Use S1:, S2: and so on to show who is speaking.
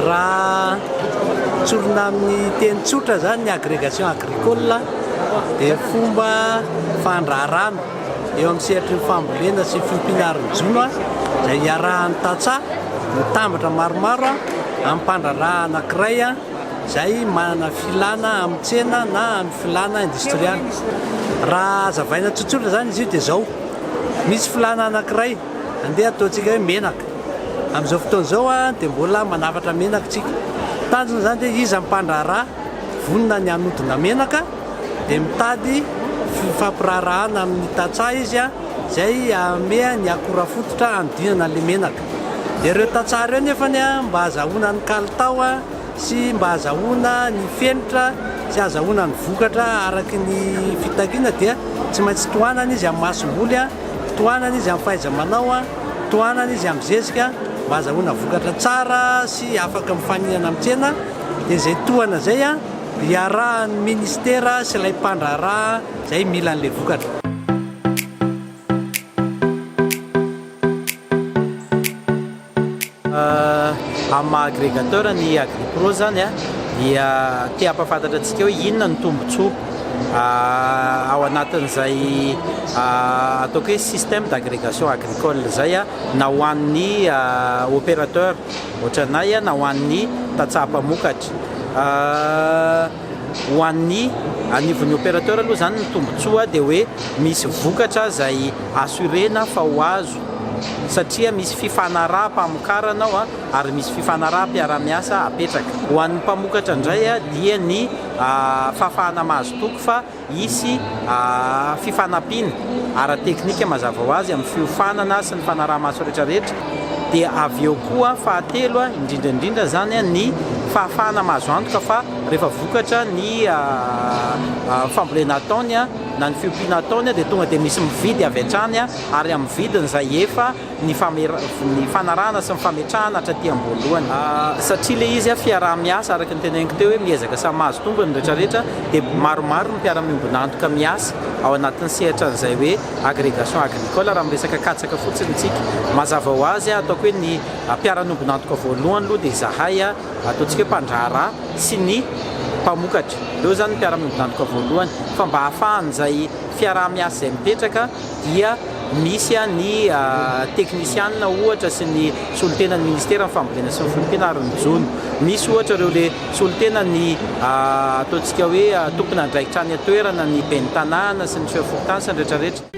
S1: Raha tsorina amin'ny teny tsotra izany ny agrégation agricole dia fomba fandraharahana eo amin'ny sehatry ny fambolena sy fiompiana ara-jono izay iarahan'ny tantsaha mitambatra maromaro amim-pandraharahana anankiray izay manana filana amin'ny tsena na amin'ny filana indostrialy. Raha hazavaina tsotsotra izany izy io dia izao, misy filana anankiray, andeha ataontsika hoe menaka, amin'izao fotoana izao dia mbola manafatra menaka isika, tanjona izany dia iza ny mpandraharaha vonona ny hanodina menaka dia mitady fifampiraharahana amin'ny tantsaha izy izay hameha ny akora fototra hanodinana ilay menaka. Dia ireo tantsaha ireo nefany mba azahoana ny kalitao sy mba azahoana ny fenitra sy azahoana ny vokatra araka ny fitakiana dia tsy maintsy tohanana izy amin'ny masomboly, tohanana izy amin'ny fahaiza-manao, tohanana izy amin'ny zezika mba azahoana vokatra tsara sy afaka mifanihana amin'ny tsena. Dia izay tohana izay dia iarahan'ny Ministera sy ilay mpandraharaha izay mila an'ilay vokatra.
S2: Amin'ny maha agregateur ny Agripro zany dia te hampafantatra antsika hoe inona no tombotsoa ao anatin'izay ataoko hoe système d'agrégation agricole izay na ho an'ny opérateur ohatranay na ho an'ny tantsaha mpamokatra. Ho an'ny anivon'ny opérateur aloha izany ny tombontsoa dia hoe misy vokatra izay assurena fa ho azo satria misy fifanaraham-pamokarana ao ary misy fifanaraham-piarahamiasa apetraka. Ho an'ny mpamokatra indray dia ny fahafahana mahazo toky fa Hisy fifanampiana ara-teknika mazava ho azy amin'ny fiofanana sy ny fanaraha-maso rehetrarehetra, dia avy eo koa fahatelo indrindra indrindra izany ny fahafahana mahazo antoka fa rehefa vokatra ny fambolena ataony na ny fiompiana ataony dia tonga dia misy mividy avy hatrany ary amin'ny vidiny izay efa ny ny fanarahana sy ny fametrahana hatra aty am-boalohany. Satria ilay izy fiaraha-miasa araka ny teneniko teo hoe miezaka samy mahazo tombony ny rehetra rehetra dia maromaro ny mpiara-miombon'antoka miasa ao anatin'ny sehatra an'izay hoe agrégation agricole raha miresaka katsaka fotsiny tsika. Mazava ho azy ataoko hoe ny mpiara-niombon'antoka voalohany aloha dia izahay ataontsika hoe mpandraharaha sy ny mpamokatra. Ireo izany ny mpiara-miombon'antoka voalohany fa mba hahafahan'izay fiaraha-miasa izay mipetraka dia. Misy ny teknisianina ohatra sy ny solontenan'ny minisiteran'ny fambolena sy ny folompina ary ny jono. Misy ohatra ireo le solontena ny ataontsika hoe tompon'andraikitra any an-toerana, ny ben'ny tanàna sy ny chef fokontany sy ny rehetra rehetra.